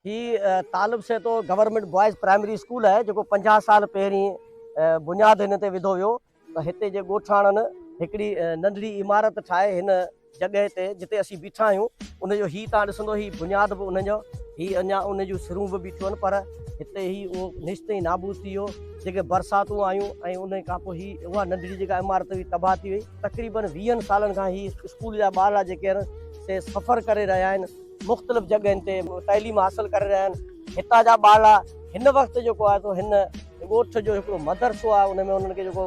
هي Talib Sahito government boys primary school آهي جيڪو پنجاهه سال پهرين بنياد هن تي وڌو ويو ته هتي جي ڳوٺاڻن هڪڙي ننڍڙي عمارت ٺاهي هن جڳهه تي جتي اسين بيٺا آهيون ان جو هي تان ڏسندو هي بنياد به ان جو هي اڃا ان جون سرون به بيٺيون آهن پر هتي هي اهو نشت ۽ نابود ٿي ويو جيڪي برساتون آيون ۽ ان کان پوء هي اها ننڍڙي جيڪا عمارت هئي تباهه ٿي وئي تقريبن ويهن سالن کان هي اسڪول جا ٻارڙا جيڪي آهن سي سفر ڪري رهيا آهن مختلف جڳهين تي تعليم حاصل ڪري رهيا آهن هتان جا ٻارڙا هن وقت جيڪو آهي سو هن ڳوٺ جو هڪڙو مدرسو آهي ان ۾ انهن کي جيڪو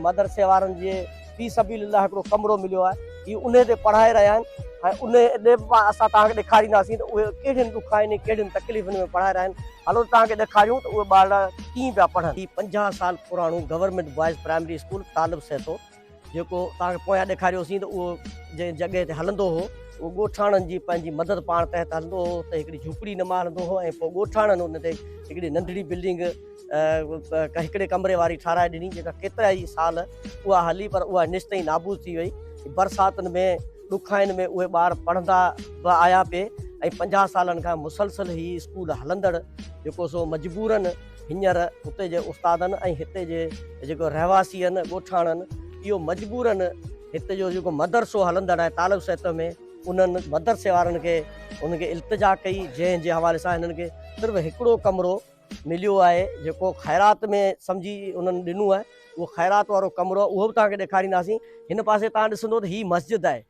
مدرسي وارن جي في سبيل الله هڪڙو ڪمرو مليو آهي هي ان تي پڙهائي رهيا آهن ۽ ان ڏي به اسان توهان کي ڏيکارينداسين ته اهي ڪهڙين ڏکائين ۽ ڪهڙين تڪليفن ۾ پڙهائي رهيا آهن هلو توهان کي ڏيکاريون ته اهي ٻارڙا ڪيئن پيا پڙهن هي پنجاهه سال پراڻو government boys primary school Talib Sahito جيڪو توهان کي پويان ڏيکاريوسين ته اهو جنهن جڳهه تي هلندو هو اهو ڳوٺاڻن جي پنهنجي مدد پاڻ تحت هلندو هو ته هڪڙي جهوپڙي نما هلندو هو ۽ پوء ڳوٺاڻن ان تي هڪڙي ننڍڙي بلڊنگ هڪڙي ڪمري واري ٺاهرائي ڏني جيڪا ڪيترا ئي سال اها هلي پر اها نش تائين نابود ٿي وئي برساتن ۾ ڏکائن ۾ اهي ٻار پڙهندا به آيا پي ۽ پنجاهه سالن کان مسلسل هي اسڪول هلندڙ جيڪو سو مجبورن هينئر اتي جي استادن ۽ هتي جي جيڪو رهواسين ڳوٺاڻن اهو مجبورن هتي جو جيڪو مدرسو هلندڙ آهي طالب سهته ۾ انهن مدرسي وارن کي انهن کي التجا ڪئي جنهن جي حوالي سان هنن کي صرف هڪڙو ڪمرو مليو آهي جيڪو خيرات ۾ سمجهي انهن ڏنو آهي اهو خيرات وارو ڪمرو اهو به توهان کي ڏيکارينداسين هن پاسي توهان ڏسندو ته هي مسجد آهي.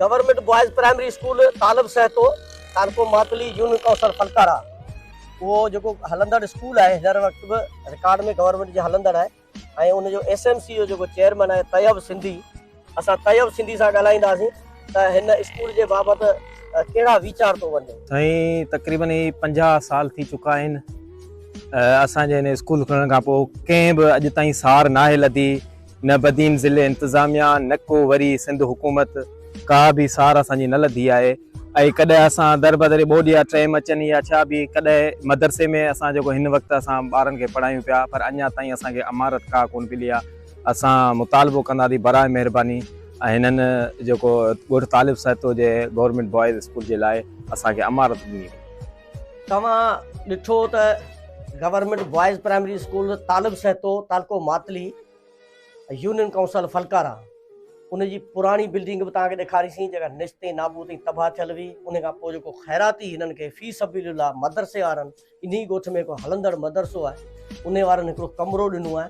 Government boys primary school Talib Sahito تارڪو ماتلي يون ڪوثر فلڪارا اهو جيڪو هلندڙ اسڪول آهي هر وقت به رڪارڊ ۾ گورنمينٽ جي هلندڙ آهي ۽ ان جو ايس ايم سي جو جيڪو چيئرمين آهي طيب سنڌي اسان طيب سنڌي سان ڳالهائينداسين ته هن اسڪول جي بابت ڪهڙا ويچار ٿو وڃي. سائين تقريبن هي پنجاهه سال ٿي چڪا آهن اسان جي هن اسڪول کلڻ کان پوء ڪنهن به اڄ تائين سار ناهي لڌي نه بدين ضلعي انتظاميا نه ڪو وري سنڌ حڪومت ڪا به سار اسان جي نه لڌي آهي. ۽ ڪڏهن اسان در بدري ٻوڏ يا ٽريم اچن يا ڇا به ڪڏهن مدرسي ۾ اسان جيڪو هن وقت اسان ٻارن کي پڙهايون پيا پر اڃا تائين اسان کي امارت ڪا ڪونه ملي آهي اسان مطالبو ڪندا ٿي برائي مهرباني هنن جيڪو ڳوٺ طالب سهتو جي گورنمينٽ بوائز اسڪول جي لاء اسان کي امارت ڏني وئي. توهان ڏٺو ته government boys primary school Talib Sahito تعلقو ماتلي. يونين ڪائونسل ڦلڪارا ان جي پراڻي بلڊنگ به توهان کي ڏيکاريسين جيڪا نشتين نابود ۽ تباهه ٿيل هئي ان کان پوء جيڪو خيراتي هنن کي في سبيل الله مدرسي وارن انهي ڳوٺ ۾ هڪ هلندڙ مدرسو آهي انهي وارن هڪڙو ڪمرو ڏنو آهي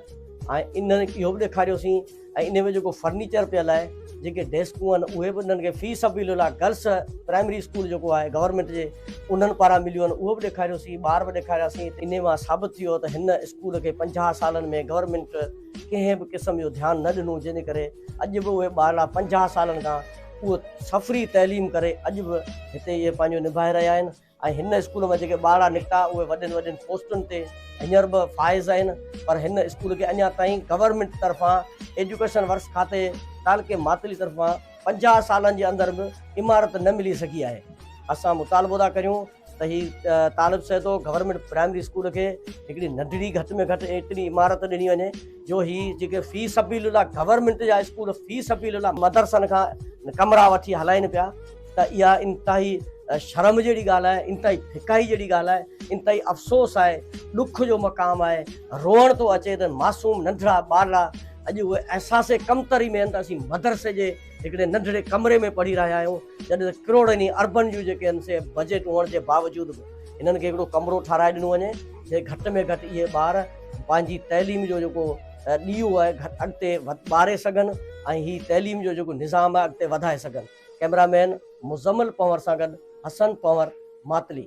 ۽ انهن اهو به ڏيکاريوسين ۽ انهي ۾ جيڪو فرنيچر پيل آهي جيڪي ڊيسڪون آهن اهي به انهن کي في سبيل الله گرلس پرائمري اسڪول جيڪو آهي گورنمينٽ جي انهن پاران مليون آهن اهو به ڏيکاريوسين ٻار به ڏيکارياسين انهي مان ثابت ٿيو ته هن اسڪول کي پنجاهه سالن ۾ گورنمينٽ ڪنهن به قسم جو ڌيان نه ڏنو جنهن جي ڪري اڄ به اهي ٻارڙا پنجاهه سالن کان اهو سفري تعليم ڪري اڄ به هتي اهي پنهنجو نڀائي رهيا آهن ۽ هن اسڪول مان جيڪي ٻارڙا نڪتا اهي وڏين وڏين پوسٽن تي هينئر به فائز آهن پر هن اسڪول کي اڃا تائين گورنمينٽ طرفان ايجوڪيشن ورڪس کاتي تعلقي ماتلي طرفان پنجاهه سالن جي اندر به عمارت نه ملي سگهي آهي اسان مطالبو ٿا ڪريون ته هي Talib Sahito government primary school کي هڪڙي ننڍڙي گهٽ ۾ گهٽ ايتري عمارت ڏني وڃي جو هي جيڪي في سبيل الله گورنمينٽ جا اسڪول في سبيل الله مدرسن کان ڪمرا وٺي هلائين پيا ته اها انتهائي شرم جهڙي ڳالهه آهي، انتهائي ڦڪائي جهڙي ڳالهه آهي، انتهائي افسوس آهي، ڏک جو مقام آهي، روئڻ ٿو اچي ته معصوم ننڍڙا ٻارڙا اڄ اهي احساس ڪمتري ۾ آهن ته اسين مدرسي جي هڪڙي ننڍڙي ڪمري ۾ پڙهي رهيا آهيون، جڏهن ته ڪروڙين ۽ اربن جون جيڪي آهن سي بجيٽ هئڻ جي باوجود به هنن کي هڪڙو ڪمرو ٺهرائي ڏنو وڃي جتي گهٽ ۾ گهٽ اهي ٻار پنهنجي تعليم جو جيڪو ڏيئو آهي اڳتي ٻاري سگهن ۽ هي تعليم جو جيڪو نظام آهي اڳتي وڌائي سگهن. ڪئميرا مين مزمل پنور سان گڏ حسن پنور ماتلي.